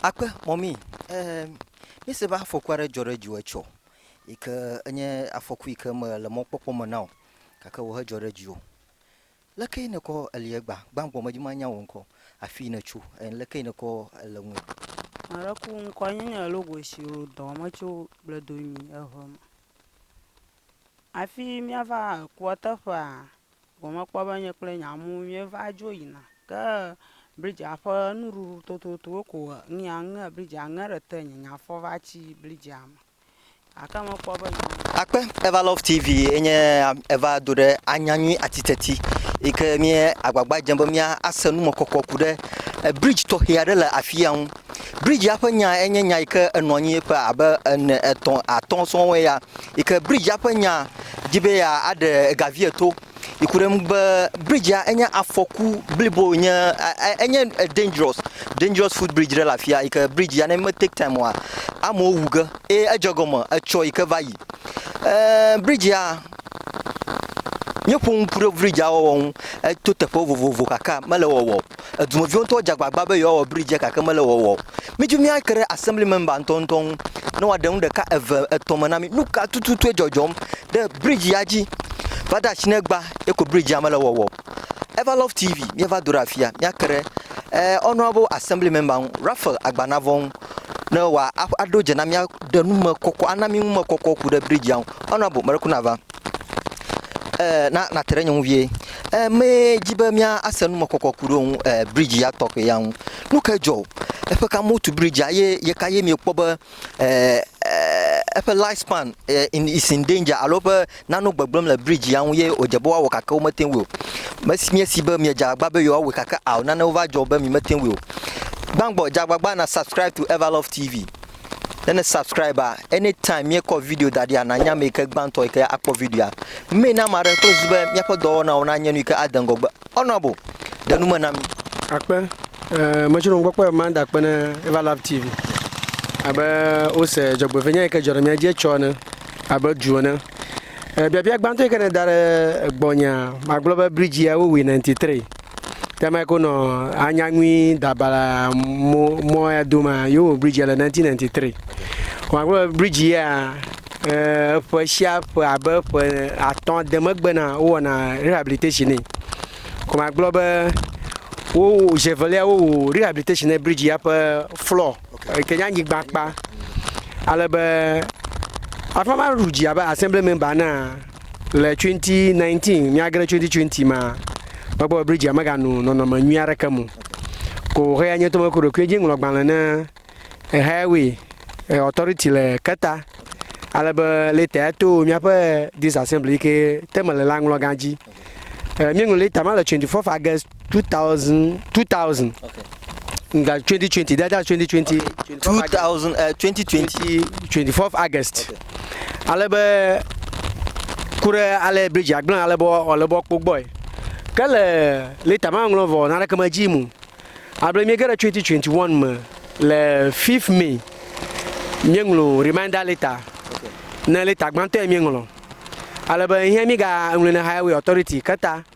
Akpe mɔmii eee míese be afɔku aɖe dzɔ ɖe dziwò etsɔ yi ke enye afɔku yi ke mele mɔkpɔkpɔ me na o gake wò hedzɔ ɖe dziwò. Lekee nèkɔ eli egbea? Gbãgbɔ medi manya wò ŋkɔ, afii nètso eye lekee nèkɔ ele ŋu. Maɖe ku ŋkɔ nye nye Logosi o dɔ me tso Gbedomi eŋe me. Afii míava kua teƒea? gɔme kpɔ be nye kple nye amewo míeva dzo yina. Ke bridzea ƒe nuɖuɖu tototowo ko he nu ya ŋe bridzea ŋe ɖe te nye nye afɔ va tsi bridzea me gake mekpɔ be nya. Akpe Eva Love TV ye nye eva do ɖe anya nyui atiteti yi ke mí agbagba dzem be míase numekɔkɔ ku ɖe bridzi tɔxɛ aɖe le afi ya ŋu. Bridzia ƒe nya enye nya yi ke enɔ anyi ƒe abe ene, etɔ̃, atɔ̃ sɔŋ ye ya. yi ke bridzia ƒe nya di be yeaɖe ega vie to yi ku ɖe eŋu be bridzia enye afɔku blibo wònye e enye dangerɔs dangerɔs fut bridzi ɖe le afi ya yi ke bridzia ne meteki taim oa amewo wu ge eye edze egɔme etsɔ yi ke va yi e bridzia míeƒo nu ku ɖe bridzia wɔwɔ ŋu eto teƒe vovovo gake mele wɔwɔ o. Edumeviwo ŋutɔ dze agbagba be yewoawɔ bridge-a gake mele wɔwɔ o. Mídi míake ɖe Assembly member ŋutɔŋutɔ ŋu ne wòaɖe nu ɖeka, eve, etɔ̃ me na mí. Nu ka tututue dzɔdzɔm ɖe bridge ya dzi? Va de asi ne egbea, ye ko bridge ya mele wɔwɔ o. Everlove TV, míeva do ɖe afia míake ɖe Honourable Assembly member ŋu, Raphael Agbanavɔ ŋu ne wòaɖo dze na mí aɖe numekɔkɔ, ana mí numekɔkɔ ku ɖe bridge ya ŋu. Honourable, meɖe ku nava. eh, na nate ɖe nye ŋu vie. Eh, medzi be míase numekɔkɔ ku ɖe ŋu eh, bridzi ya tɔxɛ ya ŋu. Nu ke dzɔ? Eƒe ka motu bridzia ye ye ka ye miekpɔ be eh, eh, eƒe life span eh, in, is in danger alo eƒe nano gbegblẽm le bridzi ya ŋu ye wòdze be woawɔ gake womete ŋui o. Mesi miesi be miedze agbagba be yewoawɔe gake ao nanewo va dzɔ be mi mete ŋui o. Gbãgbɔ, dze agbagba na subscribe to Everlove TV. Ne ne subscribe anytime míekɔ video da ɖia nanya ame yi ke gbãtɔ yi ke akpɔ videoa. Mee na ame aɖe kple zu be míaƒe dɔwɔnawo nanye nu yi ke ade ŋgɔgbe. Honorable, ɖe nu me na mí. Akpe. Eh, metsɔ nu gbɔkpɔ Amanda akpe ne Eva Lab TV. Abe wose dzɔgbevenya yi ke dzɔ ɖe mía dzi etsɔ ene abe du ene. Eh, biabia gbãtɔ yi ke ne da ɖe gbɔnyea, magblɔ be bridge ya wowui 93. Tɛmɛ ko nɔ anyaŋui dabala mɔ mɔ ya do ma yo wɔ bridge le 1993. Wa gblɔ bridge ya eh, ƒe sia ƒe abe ƒe atɔ̃ de megbe na wowɔna rehabilitation nɛ. Kɔma gblɔ be wo zi evelia wowu rehabilitation ne bridge ya ƒe floor eh, ke nye anyigba kpa ale be afama ɖu dzi abe assembly member naa Le 2019, míagre 2020 ma, mekpɔ be Bridget megano nɔnɔme nyui aɖeke me o. Ko wòhe ya nye tome ku ɖokuiwo dzi ŋlɔ gbalẽ ne Highway eh, Authority le Keta, ale be leta ya to míaƒe District Assembly yi ke te mele la ŋlɔgã dzi. Eh, Míeŋlɔ leta ma le 24 August 2000 2000 okay. nga 2020 that, that's 2020 okay. 2000 uh, 2020 24 august okay. ale be ku ɖe ale bridge agblẽ ale be wòle be kpɔ gbɔe ke le leta maŋlɔ vɔ naneke medzi mu able miege ɖe 2021 me le 5 mai míeŋlɔ reminder leta okay. ne leta gbãtɔe míeŋlɔ ale be hiã mígaŋlɔe ne highway authority keta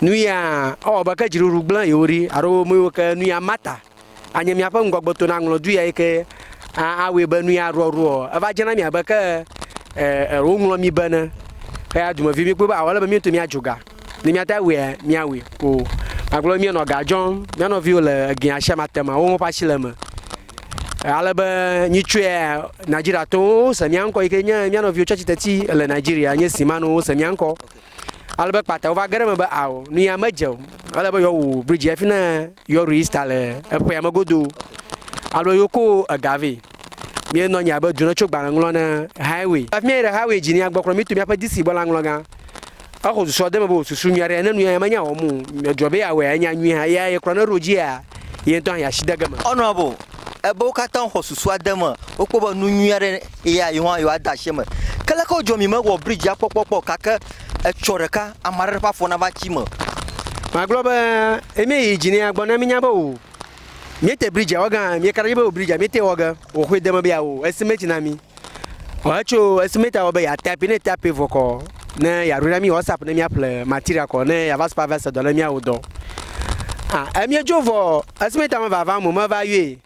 Nuya ewɔ abe ke dziɖuɖu gblẽ yewo ɖi alo mewo ke nuya Marta anye míaƒe ŋgɔgbetɔ na ŋlɔ du ya yi ke awɔe be nuya ɖuɔɖuɔ eva dze na mi abe ke e woŋlɔ mi be ne. Eya dumevi mi kpɔe be awɔ le be míeto míadzo ga ne míate awɔe míawɔe ko magblɔ míenɔ ga dzɔm mía nɔviwo le egea sia ma te ma wo ƒe asi le eme ale be nyitsɔe Nigeriatɔwo se mía ŋkɔ yi ke nye mía nɔviwo tsi atsitre ti le Nigeria nye Simano se mía ŋkɔ. Ale be kpata wova ge ɖe eme be ao nu ya medze o. Ele be yewoawu bridzi hafi ne yewoaɖu Easter le eƒea me godoo. Ale be yewoko ega vɛ. Míenɔ anyi abe dona tso gbalẽ ŋlɔ ne highway. Hafi míayi ɖe highway dzi nea, gbɔkplɔ mí to míaƒe DC gbɔ la ŋlɔgã. Exɔ susua de eme be wòsusu nyui aɖe ne nu ya menya wɔm o. Edrɔ̃ be yeawɔe anya nyui hã. Eya yekplɔ ne ɖo dzia, ye ŋutɔ hã yeasi de ge eme. Honorable, ebe wo katã woxɔ susua de eme. Wokpɔ be nu nyui aɖe Eya yi hã yewoade asi eme. Ke leke wodzɔ mi mewɔ bridzia kpɔkpɔ kpɔ o gake etsɔ ɖeka ame aɖe ƒe afɔ nava tsi eme. Magblɔ be, Eme yi dzi nɛa gbɔ ne minya be o miete bridzia wɔ ge hã mieka ɖe edzi be o bridzia miete wɔ ge o xoe de eme be yeawo esimeti na mi o hetso esimetia wɔ be ya tape ne tape vɔ kɔ ne yeaɖo na mi WhatsApp ne miaƒle material kɔ ne yeava supervise dɔ ne miawo dɔ. Ah, emiedzo vɔ esimetia meva va mo meva yɔe.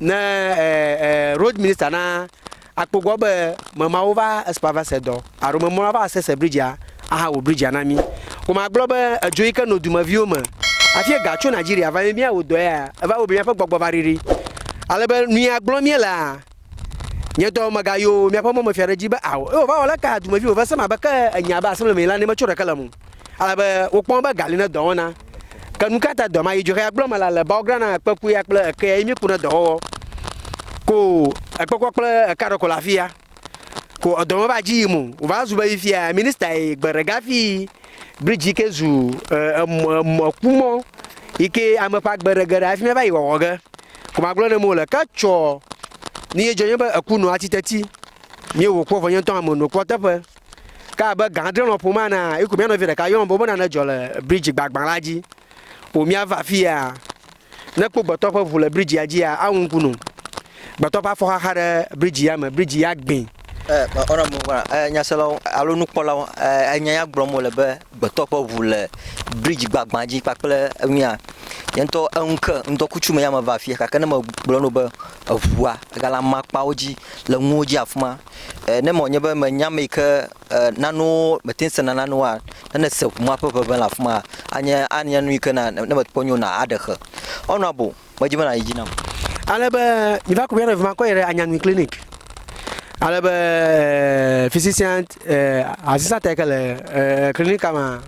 Ne ɛ ɛ road minister na akpogbɔ be memawo va espa va se dɔ alo memɔla va se se bridge a aha wo bridge a na mi. Wo ma gblɔ be edzo yi ke no dumeviwo me afi ega tso Nigeria va mi mia wo dɔ ya eva wo be miaƒe gbɔgbɔ va riri. Ale be nu ya gblɔ mie lea nye dɔ mega yo miaƒe mɔ me fia ɖe dzi be ao. Eo va wɔ leka dumeviwo ve se ma be ke enya be asemble me yi la ne me tso ɖeke le mo. Ale be wokpɔ be ga li ne dɔwɔna. Ke nu ka ta dɔ ma yi dzoxea gblɔ me la le bawogra na ekpekuya kple ekea yi miku ne dɔwɔwɔ. Ko ekpekua kple eka ɖeko le afia. Ko edɔ me va dzi yi mu. Wova zu be yi fia minista yi gbe ɖega fi bridge ke zu emɔkumɔ yi ke ame ƒe agbe ɖe ge ɖe afi mɛ va yi wɔwɔ ge. Ko ma gblɔ ne mo le ke tsɔ ni ye dzɔ nye be eku nɔ atsi teti. Mi wo kpɔ vɔ nye ŋutɔ ame no kpɔ teƒe. Ke abe gã adre lɔƒo ma enea, eyi ko mía nɔvi ɖeka yɔm be wobena nedzɔ le bridzi gbagbã la dzi. O míava afia. Ne ekpɔ gbetɔ ƒe ʋu le bridzia dzia, awu ŋku num. Gbetɔ ƒe afɔ xaxa ɖe bridzi ya me, bridzi ya gbĩ. Nyaselawo alo nukpɔlawo, enya ya gblɔm wole be gbetɔ ƒe ʋu le bridzi gbagbã dzi kpakple nua. Nye ŋutɔ eŋu ke ŋdɔkutsu me ya meva afia gake ne megblɔ na wò be eʋua egale amakpawo dzi le nuwo dzi afima, E ne mɔ nye be me nya me ke e nanu me tin sena nanu a ne ne se kuma pe pe la fuma anye anye nu ke na ne me kpɔ nyo na a de xe. Ono abo me ji me na yi ji na. Ale be mi va ko mi ana fuma ko yere anya nu clinic. Ale be physician e asisa te ke le e clinic ma.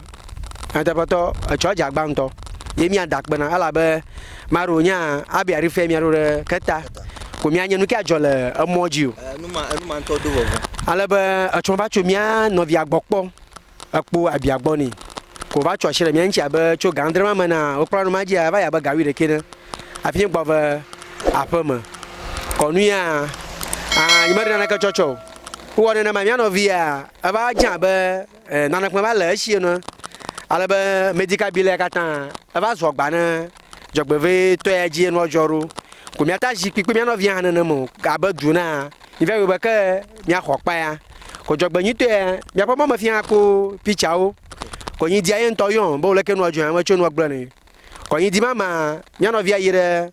Nyateƒetɔ, etsɔa dze agba ŋutɔ. Ye mía da kpena elabe maɖo nya abia ɖi fia mía ɖo ɖe keta ko mía nye nuke adzɔ le emɔ dzi o. Enuma enuma ŋutɔ do vɔvɔ. Ale be etsɔ va tso mía nɔvia gbɔ kpɔ ekpo abia gbɔ ni ko va tso asi ɖe mía ŋutsi abe tso ga adre ma me na wokpɔ la numa dzia eva yi abe ga wui ɖekɛ ne afi nye gbɔ ve aƒe me. Kɔ nu ya a nyi me ɖe naneke tsɔ tsɔ o. Wowɔ nenema mía nɔvia eva dze abe. Eh, nane kpɔe va le esie nɔe, ale be medical bill ya katã eva zɔ gba ne dzɔgbevitɔ ya dzi enua dzɔ ɖo. Ko miata zikpui kple mia nɔvia hã nenem o, abe du na mivia yobe ke miaxɔ kpa ya. Ko dzɔgbe nyuitɔ ya, miaƒe mɔ me fia ko picture-wo. Ko nyi dia ye ŋutɔ yɔn be wole ke nua dzɔ ya me tso nua gblɔ ne. Ko nyi di mama mia nɔvia yi ɖe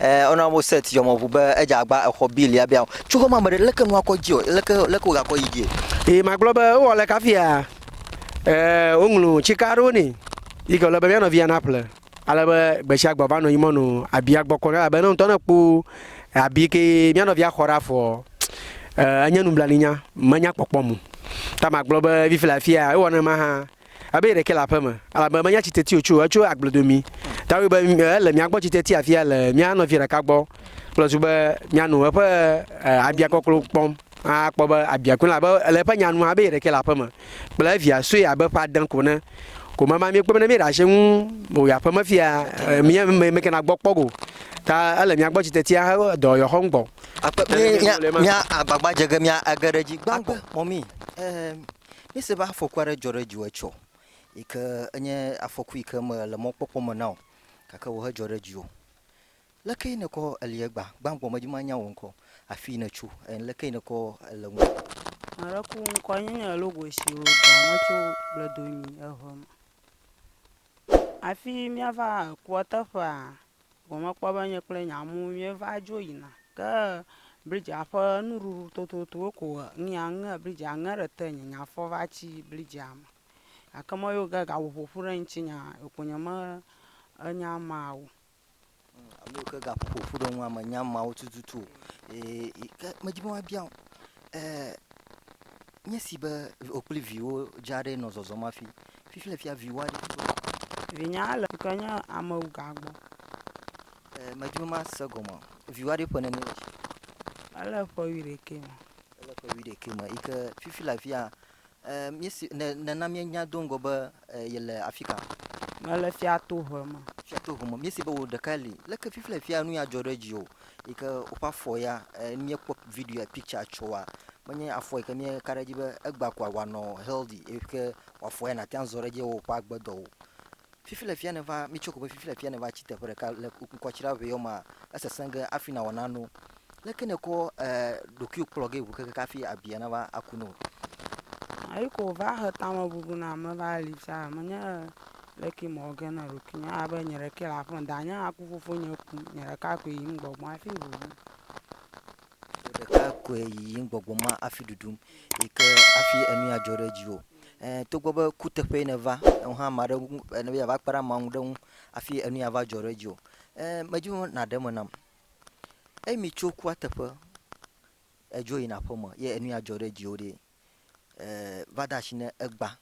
Ɛɛ Honourable Seth Yɔmɔbu be edze agba exɔ bill ya biã o. Tso xɔme ame ɖe, leke nua kɔ edzi o? Leke leke wogakɔ yi dzie? Eye magblɔ be, Wowɔ aleke hafia? Ɛɛ woŋlu tsika aɖewo nɛ yi ke wòle be mía nɔvia naƒle ale be gbesiagbe wòava nɔ anyi mɔnu abia gbɔ kpɔm. Elabe ne ŋutɔ ekpɔ abi ke mía nɔvia xɔ ɖe afɔ ɔ, enye nublanuinya, menya kpɔkpɔm o. Ta magblɔ be fifi le afia, ewɔ nenema hã. Ebe yeɖekɛ le aƒeme, elabe menya tsi teti o, tso etso agbledo mi. Tawoe be ele mia gbɔ tsi teti afia le mia nɔvia ɖeka gbɔ kple zu be miano eƒe abia kɔklo kpɔm akpɔ be abia koe, elabe le eƒe nya nu hã be yeɖekɛ le aƒeme kple evia sue abe ƒe ade ko ene. Ko mama míekpɔe be ne míeɖe asi eŋu o yi aƒeme fia, mía mekena gbɔ kpɔ o. Ta ele mia gbɔ tsi teti ahe dɔ yewoaxɔ nugbɔ. Akpe be míagbagba dze ge mía age ɖe edzi gbã gbɔ mɔ mí. Ɛɛ. Míese be afɔku aɖe dzɔ ɖe dziwò etsɔ yi ke enye afɔku yi ke mele mɔkpɔkpɔ me na o gake wòhe dzɔ ɖe dziwò. Lekee nèkɔ eli egbea? Gbãgbɔ medzi be manya wò ŋkɔ, afii nètso, eye lekee nèkɔ ele ŋu. Ame aɖe ku ŋkɔnye nye Logosi o dɔa me tso Bledomi eŋe me. Afi míava kua teƒea gɔme kpɔ be nye kple nye amewo míeva dzo yina. Ke bridzea ƒe nuɖuɖu tototowo ko he nu ya ŋe bridzea ŋe ɖe te nye nya fɔ va tsi bridzea me. Gake mɔ yewo ge gaƒo ƒoƒu ɖe ŋutinye ko nye me enya ma o. Ame yiwo ke gaƒo ƒoƒu ɖe ŋua menya ameawo tututu o. Ee, ke medi be woabia o. Ee. Nye si be wò kple viwò dza aɖee nɔ zɔzɔm hafi. Fifi le fia viwò aɖe tso afi. Vinye ale ke nye amewuga gbɔ. Ee, medi be mase gɔme o. Viwò aɖe ƒe nenie le esi? Ele ƒe wuiɖekɛ me. Ele ƒe wuiɖekɛ me yi ke fifi le afia. Ee, míese, nèna míenya do ŋgɔ be E, yele afi ka? Mele Fiatohe me. Fiatohe me. Míese be wò ɖekae li. Leke fifia fia nu ya dzɔ ɖe dziwò yi ke woƒe afɔ ya e, míekpɔ video ya picture tsoa menye afɔ yi ke míeka ɖe edzi be egba koa wòanɔ healthy eye ke wòafɔ ya nàte ŋu azɔ ɖe edzi ewɔ woƒe agbedɔwo. Fifi le fia nèva, mitsɔe ko be fifi le fia nèva tsi teƒe ɖeka le ŋkɔtsiɖaʋeɔ mea, esesẽ ge hafi nàwɔ nanewo. Leke nèkɔ ɖokuiwò kplɔ ge ŋu kekeke hafi abia nava aku na wò? Eyi ke wòva he tamebubu nam meva li fia menye leke mewɔ ge na ɖokuinye elabe nye ɖekee le aƒem. Danye aku fofonye ku, nye ɖeka koe yiyim gbɔgbɔm hafi ɖuɖum. Wò ɖeka koe yiyim gbɔgbɔm hafi ɖuɖum yi ke hafi enu ya dzɔ ɖe dziwò. Eh, togbɔ be kuteƒee nèva, eŋu hã ame aɖe ŋu, eh, ne be yeava kpe ɖe ameawo ŋu ɖe ŋu hafi enu ya va dzɔ ɖe dziwò. Eh, medi be nàɖe eme nam. Eyi mi tso kua teƒe edzo yina aƒe me ye enu ya dzɔ ɖe dziwo ɖe e va de asi ne egba.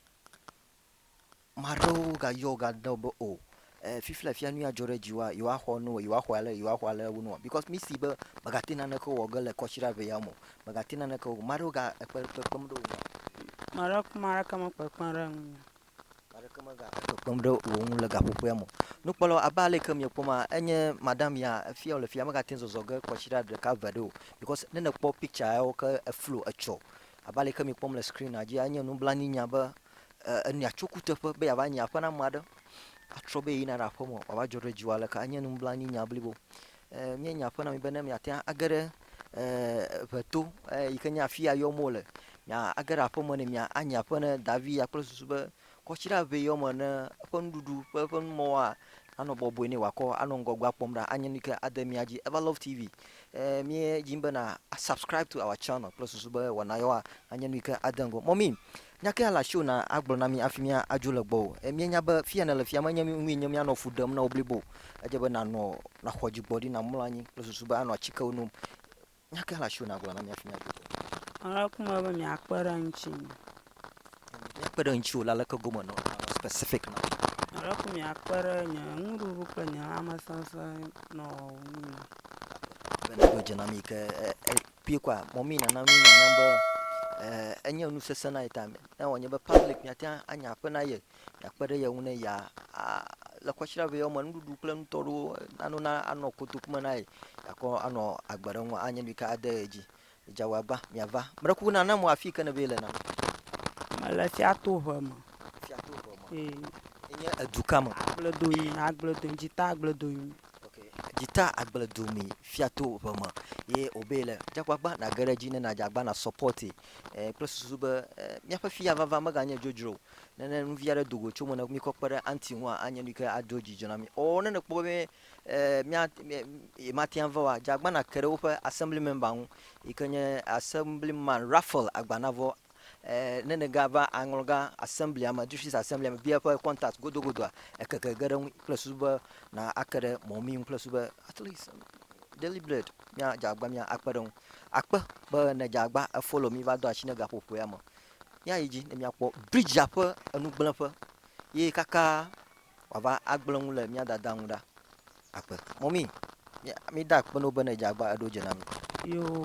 Ame aɖewo ga yɔ ga de be o e fifi le afia nu ya dzɔ ɖe dziwoa yewoa xɔ nu o yewoa xɔ ale yewoa xɔ ale wonu o bikɔs mi si be mega te naneke wɔ ge le kɔsira ʋe ya me o. Mega te naneke wɔ ge. Ame aɖewo ga ekpe kpekpem ɖe wo ŋu. Ame aɖewo ƒe ame aɖeke me kpekpem ɖe ŋu o. aɖeke megale kpekpem ɖe wò ŋu le gaƒoƒoea me o. Nukpɔlawo, abe ale ke miekpɔ ma, enye madam ya, efia wòle fia, megate ŋu zɔzɔ ge kɔsiɖa ɖeka eve aɖe o because ne nèkpɔ picture yawo ke eflo etsɔ. Abe ale ke miekpɔm le screen-a dzia, enye nublanui nya be e, enɔa tso kuteƒe be yeava nyi aƒe na ame aɖe, atrɔ be yeyina ɖe aƒeme, wòava dzɔ ɖe dziwò aleke, enye nublanui nya blibo. Eh, míenya aƒe na mi be ne miate ŋu age ɖe eh, ʋeto eh, yi ke nye afi ya yɔm wole miage ɖe aƒeme ne mia anyi aƒe ne davi ya kple susu be kɔtsi ɖe aʋe yɔ me ne eƒe nuɖuɖu ƒe eƒe numɔwoa anɔ bɔbɔe ne wòakɔ anɔ ŋgɔgbe akpɔm ɖa anye nu yi ke ade mia dzi ever love tv eh, míedzi bena subscribe to our channel kple susu be wɔna yewoa anye nu yi ke ade ŋgɔ mɔmi Nya kae le asiwò na agblɔ na mí hafi míadzo le gbɔwò? Míenya be fi ya nèle fia menye nui nye míanɔ fu ɖem na wò blibo o. Edze be nànɔ, nàxɔ dzigbɔɖi, nàmlɔ anyi kple susu be anɔ atikewo nom. Nya kae le asiwò na agblɔ na mí hafi míadzo le gbɔwò? Aleke mele be miakpe ɖe ŋuti me? Míakpe ɖe ŋutiwò le aleke gome nɔ specific na wò? Aleke miakpe ɖe nye nuɖuɖu kple nye lãmesesẽ nɔ ŋu me? Be nèɖo dze na mí ke Kpuie kɔa, mɔmee nana nu nanya be eh, enye nu sesẽ na ye ta me. Ne wòanye be public miate ŋu anya akpe na ye, miakpe ɖe ye ŋu ne ya le kɔsiɖa vɛ wɔme nuɖuɖu kple nutɔ ɖewo nano na anɔ kotoku me na ye, akɔ anɔ agbe ɖe ŋu anye nu yi ke ade ye dzi. Dza wɔ agba, miava. Meɖe kuku na na mo afi yi ke nèbe le na mi. Mele Fiatoʋe me. Fiatoʋe me. Ee. Enye edu ka me? Agbledonyinu, Agbledonyinu, Dzita Agbledonyinu. Ok, dzita agble do mi fia to ʋe me ye obe le dzagbagba nage ɖe dzi ne nadzagba na sɔpɔti eh, kple susu be eh, míaƒe fia vava meganye dzodzro o. Ne ne nuvi aɖe do go tso me ne mi kɔ kpe ɖe anti ŋu a, anye nu yi ke ado dzidzɔ na mi. O ne nekpɔ be eh, mía eh, mate ŋu va wa dzagba na ke ɖe woƒe assembly member ŋu yi ke nye assemblyman Raphael Agbanavɔ Ne nèga va aŋlɔ gã asemblia me, district asemblia me, bia eƒe contact godogodoa, ekeke ge ɖe ŋui kple susu be na ake ɖe mɔ mi ŋu kple susu be at least daily bread mia dze agba mia akpe ɖe ŋu. Akpe be ne dze agba efolo mi va do asi ne gaƒoƒoea me. Mia yi dzi ne mia kpɔ bridge ƒe enugblẽƒe ye kaka wòava agblẽ ŋu le mia dada ŋu ɖa. Akpe. Mɔmi, mi, mi da akpe no be ne dze agba eɖo dze na mi. Yoo.